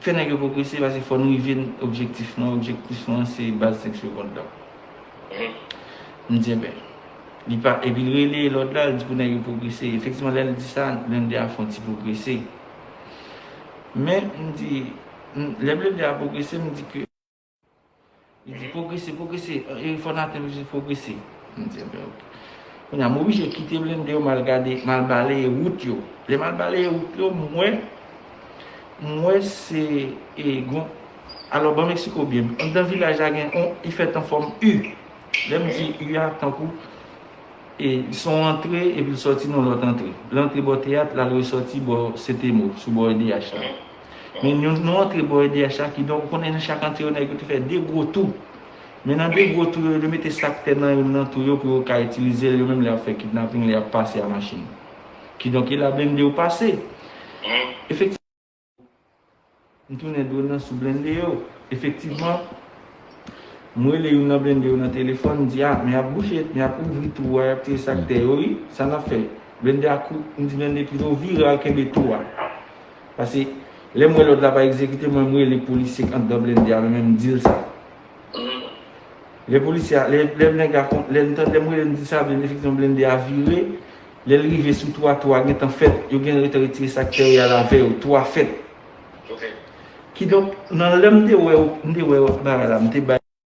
Fè nèg yo pwogrese paske fò nou rive n objektif nou an, objektif nou an se baz 5 segond lan. M di enben, li pa, epi l rele lòt la, l di pou nèg yo pwogrese. Efektivman lè l di sa, blennde a fè yon ti pwogrese. Men m di, lè blennde a pwogrese, m di ke. Li di pwogrese, pwogrese. Erik fò Nathan li di pwogrese. M di ebyen ok. Kounye a m oblije kite blende yo m al gade, m al baleye wout yo. Lè m al baleye wout yo, m wè, m wè se e gon, alò ban m eksplike w byen. Anndan vilaj la gen yon, li fèt an fòm U. Lè m di U a, tankou e son w antre epi l sòti nan yon lòt antre. L antre bò teyat, l al resòti bò Sentemo, sou bò edh la. Men nou nou antre bò edh la ki donk ou konnen nan chak antre yo nèg yo te fè 2 gwo tou. Men nan 2 gwo tou yo yo mete sak tè nan youn nan tou yo pou yo ka itilize l yo menm lè y ap fè kidnaping lè y ap pase a machin. Ki donk e la blende yo pase. Efektivman m tounen dwòl nan sou blende yo. Efektivman m rele youn nan blende yo nan telefòn m di a men y ap bouche men y ap ouvri tou a y ap tire sak tè yo wi sa n ap fè. Blende a kou m di blende pito vire al kenbe tou a. Pase lèm wè lòd la pa egzekite mwen m rele polisye k andan blende a mwen menm m dil sa. Lè polisye a, lè nèg la kon, lè m tande m rele m di sa vle di efektivman blende a vire, lè l rive sou 3, 3 gentan fèt, yo gen retan retire sa k tè y a la vè yo, 3 fèt. Kidonk nan lè m te wè yo, m te wè bagay la m te bay.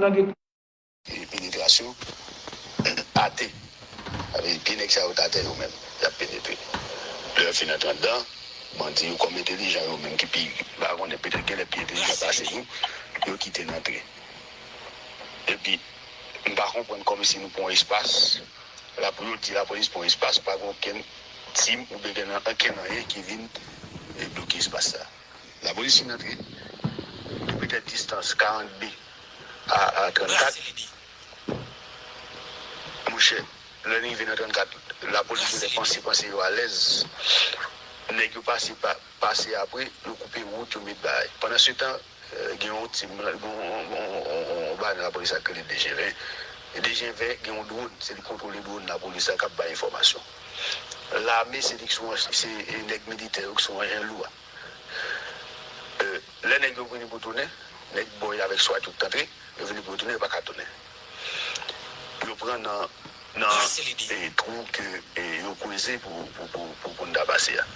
Lang Peyi penetration ate. Sa vle di pye nèg sa yo t atè yo menm yap penetre lè yo fin antre andan bandi yo kòm entelijan yo menm ki pi m pa konnen petèt genlè pi entelijan pase nou yo kite n antre epi m pa konprann kòmsi nou pran espas la pou yo di lapolis pran espas pa gen okenn tim oubyen gen ankenn anyen ki vin debloke espas sa. N ap resi nan trip de petèt distans 40 bi a 34 monchè lè n rive nan 34 lapolis genlè panse panse yo alèz nèg yo pase pase apre yo koupe wout yo met bagay pandan se tan gen yon ti yon bagay lapolis la k rele dejenvè dejenvè gen yon dwòn se li kontwole dwòn lapolis la k ap bay enfòmasyon. lame se li ki sou an se nèg militè yo ki sou anjen lou a e lè nèg yo vini pou tounen nèg bò yo avèk swat yo ki t antre yo vini pou yo tounen yo pa ka tounen yo pran nan nan e twou ke e yo kweze pou pou pou n ta pase a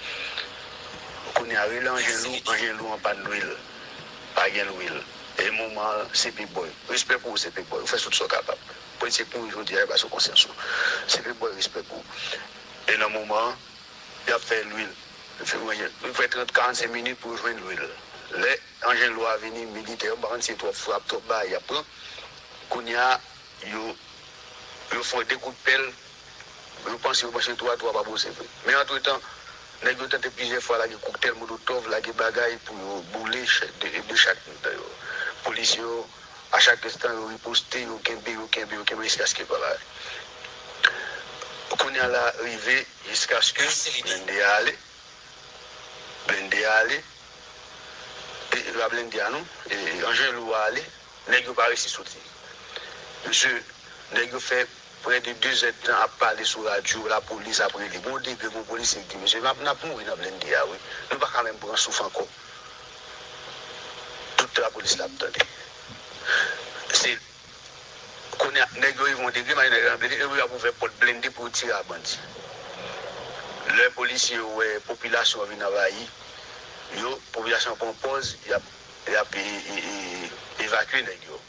kounye a rele anjen lou anjen lou an pàn lwil pa gen lwil e moman an se p-boy respè pou ou se p-boy ou fè sout sa w kapab. Politisyen k mouri jodi a yo pa sou konsyans yo. Se vre m bòy respè pou ou. E nan moman an yap fè lwil. Yo fè 30 45 minit pou yo jwenn lwil. Lè anjen lwa vini militè yo m pa konn si se twòp frap twòp bagay yap pran. Kounya yo yo fon 2 kout pèl yo panse yo panche 3 3 pa bouze vre. Men antretan nèg yo tante plizyè fwa lage koktèl molotòv lage bagay pou yo boule 2 chak mitan yo. Polisye yo A chak instant yo riposte yo kenbe yo kenbe yo kenbe jiskaske vwala kounya la rive jiskaske blende a ale blende a ale e pa blende a non anjen lou a ale nèg yo pa resi soti mesye nèg yo fè. Prè de 2 zè tan ap pale sou radyo, la polis ap rele. Gon degre, gon polisye ki di, Mesye, n ap mouri nan blende a wi. Nou pa ka menm pran souf ankò. Tout tan lapolis la ap tande. Se Kounye a, nèg yo rive yon degre, malgre nèg yo nan blende, yo ap ouvè pòt blende pou yo tire a bandi. Lè polisye yo wè popilasyon an vin anvayi yo, popilasyon an pran pòz y ap evakye nèg yo.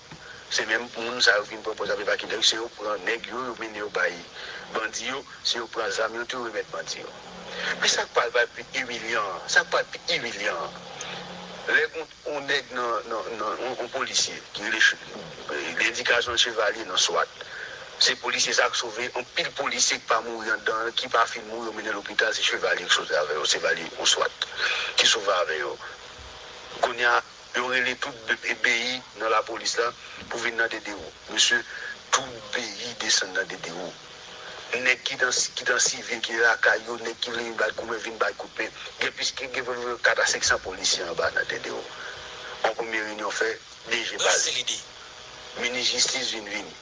Se menm moun sa yo vin pran pòz ap evakye nèg yo, se yo pran nèg yo, yo mennen yo bay bandi yo, se yo pran zam yo tou remèt bandi yo. Men sa k pral va pi imilyan an, sa k pral pi imilyan an, lè gen yon nèg nan, nan, yon polisye ki rele Che, gen endikasyon l chevalye nan swat, se polisye sa k sove anpil polisye k pa mouri anndan an, ki pa fin mouri yo mennen lopital se chevalye k sove avè yo, chevalye yon swat ki sove avè yo. Kounye a. Yo rele tout bby nan la police la pou vin nan DDO. Mesye tout bby desann nan DDO. Nèg ki dan ki dan sivye ki lakay yo nèg ki vle vin bay koube vin bay kout pen. Gen plis ki gen vre 4 a 500 polisye anba nan DDO. On premye reunion fè DG pale. Brase lide. Minis jistis vin vini.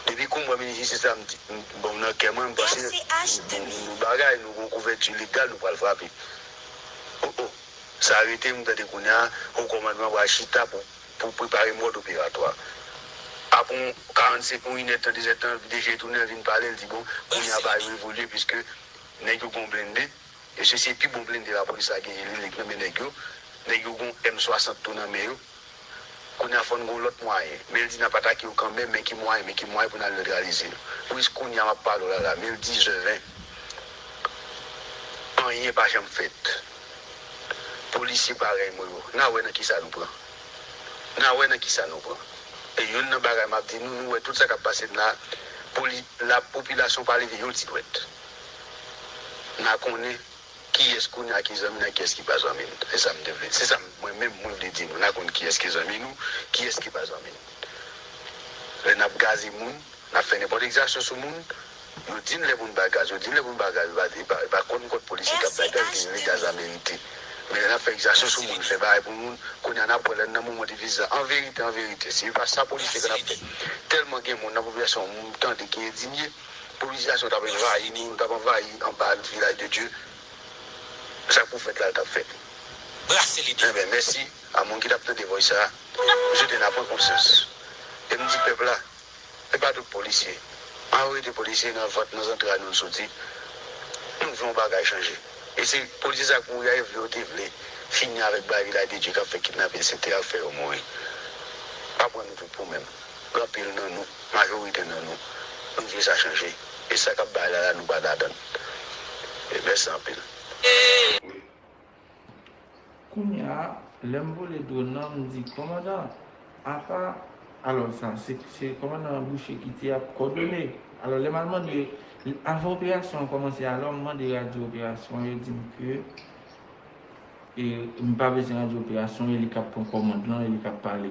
Depi kou m wè minis jistis la m di bon nan kè mwen m panse nou gon bagay nou gon kouvèti legal nou pral frape. Oh oh. Sa rete pou m gade kounya, Ho Kòmandman pral chita pou prepare mòd operatwa. Apre yon 45 ou inèdtan, dezèdtan, DG tounen, l vin pale, l di bon, kounya bagay yo evolye piske nèg yo gen yon blende, mesye se pi bon blende lapolis la genyen li menm ki nan men nèg yo, nèg yo gen yon M 60 tou nan men yo. Kounya fòn gon lòt mwayen. Meldy nap atake yo kanmenm men ki mwayen men ki mwayen pou nal netralize yo wi s kounya map pale w la la Meldy zèven anyen pa janm fèt polisye parèy mwen yo na wè nan kisa nou pran na wè nan kisa nou pran e youn nan bagay map di nou nou wè tout sa kap pase n la poli la popilasyon pa leve yon ti dwèt na konnen Kiyès kounya ki zanmi nan kiyès ki pa zanmi n se sa m te vle se sa mwen menm mwen vle di nou na konn kiyès ki zanmi nou kiyès ki pa zanmi n lè nap gaze moun nap fè nenpòt egzasyon sou moun yo di n lè pou n ba gaz yo di n lè pou n ba gaz e pa e pa e pa kòn kòt polisye kap bay gaz ki di n lè gaz la merite men lè nap fè egzasyon sou moun fè bagay pou moun kounya nap wè lè n nan moman difisil la anverite anverite si e pa sa polisye ka nap fè tèlman gen moun nan popilasyon an m tande ki endinye. Polis Jackson t ap envayi nou, l t ap anvayi anba l Vilaj de Dye. Se sa pwofèt la t ap fè. Brase lide. Enben, mèsi a moun ki t ap tande vòys sa a. M swete n a pran konsyans. E m di pèp la, e pa tout polisye. Mayorite polisye nan vant, nan zantray nou l soti. Nou vle yon bagay chanje. E se polisye sa yo k mouri a yo vle yo te vle fini avèk bagay Vilaj de Dye k ap fè kidnapin, se te ap fè yo mouri. Pa pran nou tout pou menm. Gen anpil nan nou, majorite nan nou, nou vle sa chanje. E sa kap bay la la nou pa ladann. Mèsi anpil. Kounya lè m vole drone nan m di kòmandan apa alò sa se kòmandan Boucher ki te ap kòdone alò lè m al mande avan operasyon an kòmanse alò m mande radyo operasyon yo di m ke m pa bezwen radyo operasyon e li k ap pran kòmand lan e li k ap pale.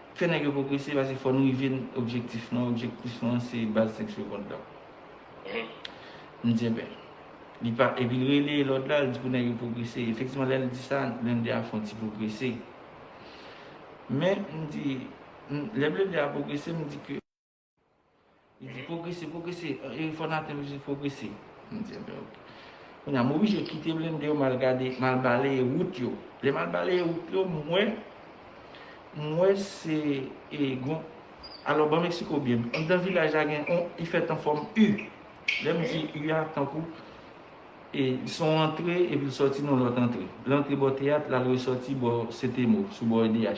Fè nèg yo pwogrese paske fò nou rive n objektif nou an, objektif nou an se baz sèks yo kont la. M di enben, li pa, epi l rele lòt la, l di pou nèg yo pwogrese. Efektivman lè l di sa, blennde a fè yon ti pwogrese. Men, m di, lè blennde a pwogrese, m di ke. Li di pwogrese, pwogrese. Erik fò Nathan li di pwogrese. M di anben ok. Kounye a m oblije kite blende yo m al gade, m al baleye wout yo. Lè m al baleye wout yo, m wè, m wè se e gon, alò ban m eksplike w byen. Anndan vilaj la gen yon, li fèt an fòm U. Lè m di U a, tankou e se yon antre epi l sòti nan yon lòt antre. L antre bò teyat, l al resòti bò Sentemo, sou bò edh la.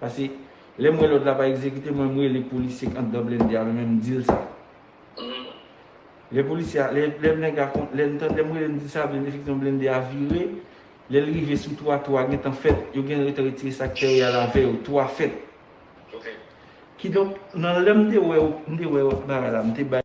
Pase lèm wè lòd la pa egzekite mwen m rele polisye k andan blende a mwen menm m dil sa. Lè polisye a, lè nèg la kon, lè ntan, lèm rele m dil sa blende efektivman blende a vire, lèl rive sou 3, 3 gentan fèt, yo gen retan retire sak tè yo yal avè yo, 3 fèt. Kidonk nan lèm te wè, m te wè bagay la m te bay.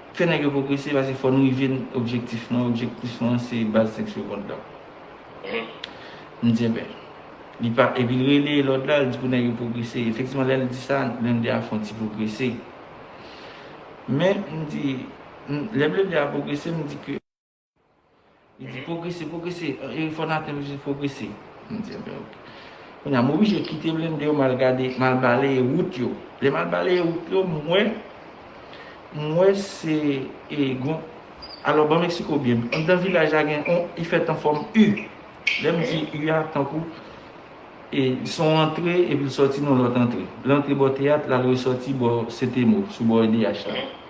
Fè nèg yo pwogrese paske fò nou rive n objektif mwen, objektif mwen se baz 5 segond lan. M di enben, li pa, epi l rele lòd la, l di pou nèg yo pwogrese. Efektivman lè l di sa, blennde a fè yon ti pwogrese. Men m di, lè blennde a pwogrese, m di ke. Li di pwogrese, pwogrese. Eee fò Nathan m di pwogrese. M di enben ok. Kounya m oblije kite blennde yo m al gade, m al baleye wout yo. Lè m al baleye wout yo m wè, m wè se e gon, alò ban m esplike w byen. Anndan vilaj la gen on, li fèt an fòm U. Lè m di U a tankou e s on antre epi l sòti nan lòt antre. L antre bò teyat l al resòti bò Setemo sou bò edh la.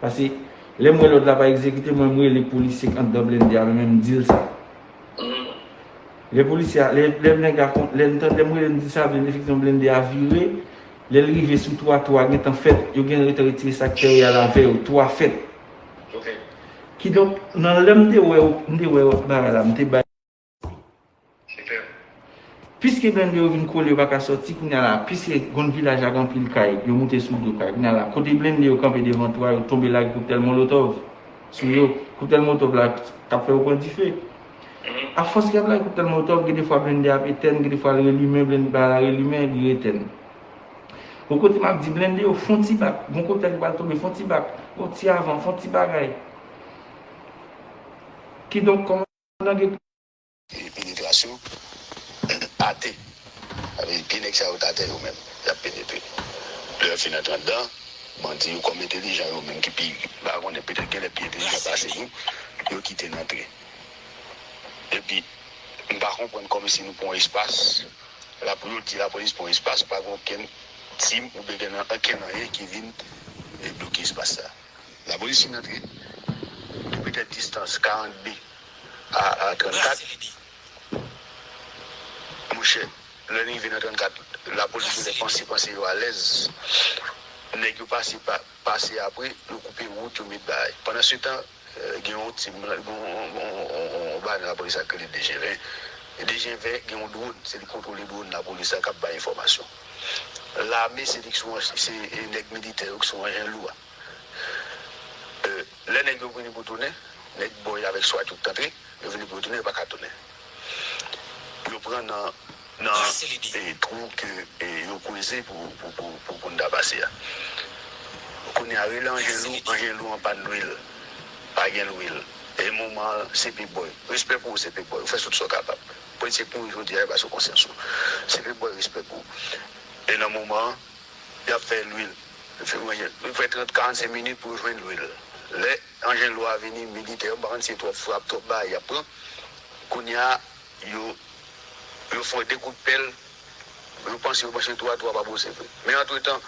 Pase lem we lot la pa egzekite mwen m rele polisye k andan blende a mwen menm m dil sa. Le polisye a, le neg la kon, le ntan lem rele m di sa blende efektivman blende a vire, lel rive sou 3, 3 gentan fet, yo gen retan retire sak te yo yal ave yo, 3 fet. Kidonk nan lem te we yo, m te we yo ak bagay la m te bay. Piske blennde yo vin kole yo pa ka sòti kounya la a piske Gond Vilaj ak anpil kay yo moute sou do kay kounya la a kote blennde yo kanpe devan twa yo tonbe lage koktèl molotòv sou yo koktèl molotòv la t ap fè yo pran dife a fòs li ap lage koktèl molotòv gen de fwa blennde a ap etèn gen de fwa l relimen blennde bay la relimen li retèn bon kote m ap di blennde yo fon ti bak gon koktèl ki pral tonbe fon ti bak yon ti avan fon ti bagay kidonk kòman. nan geto a. Epi penetras yo ate. Sa vle di pye nèg sa yo t atè yo menm y ap penetre. Lè yo fin antre anndan, bandi yo kòm entelijan yo menm ki pi m pa konnen petèt genlè pi entelijan pase nou yo kite n antre. Epi m pa konprann kòmsi nou pran yon espas la pou yo di lapolis pran yon espas pa gen okenn tim oubyen gen ankenn anyen ki vin debloke espas sa. N ap reyisi nan tren ki petèt distans 42 a 34. Monchè, lè n rive nan 34, lapolis gen lè panse panse yo alèz. Nèg yo pase pa, pase apre, yo koupe wout, yo met bagay. Pandansetan, gen yon ti, yon banan lapolis la ki rele dejenven. Dejenven gen yon dwòn, se li kontwole dwòn lapolis la k ap bay enfòmasyon. Lame se li ki sou se nèg militè yo ki sou anjen lou a. Lè nèg yo vini pou tounen, nèg bò yo avèk swat yo ki t antre, yo vini pou yo tounen, yo pa ka tounen. Yo pran nan twou ke yo kweze pou pou n ta pase a. Kounye a rele anjen lou, anjen lou an pàn lwil, pa gen lwil. E moman an CP Boy, respè pou ou CP Boy, ou fè sout sa w kapab. Politisyen k mouri jodi a yo pa sou konsyans yo. Se vle bwè respè pou e nan moman an yap fè lwil fi mwen jwenn nou fè 30 45 minit pou jwenn lwil lè anjen lwa vini militè yo m pa konn si se twòp frap twòp bagay yap pran kounya yo yo fò de kout pèl yo panse yo panche twa twa pa bon se vre men antretan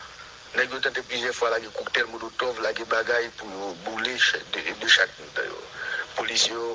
nèg yo tante plizyè fwa lage koktèl molotòv lage bagay pou yo boule chè de chak mitan yo polisye yo.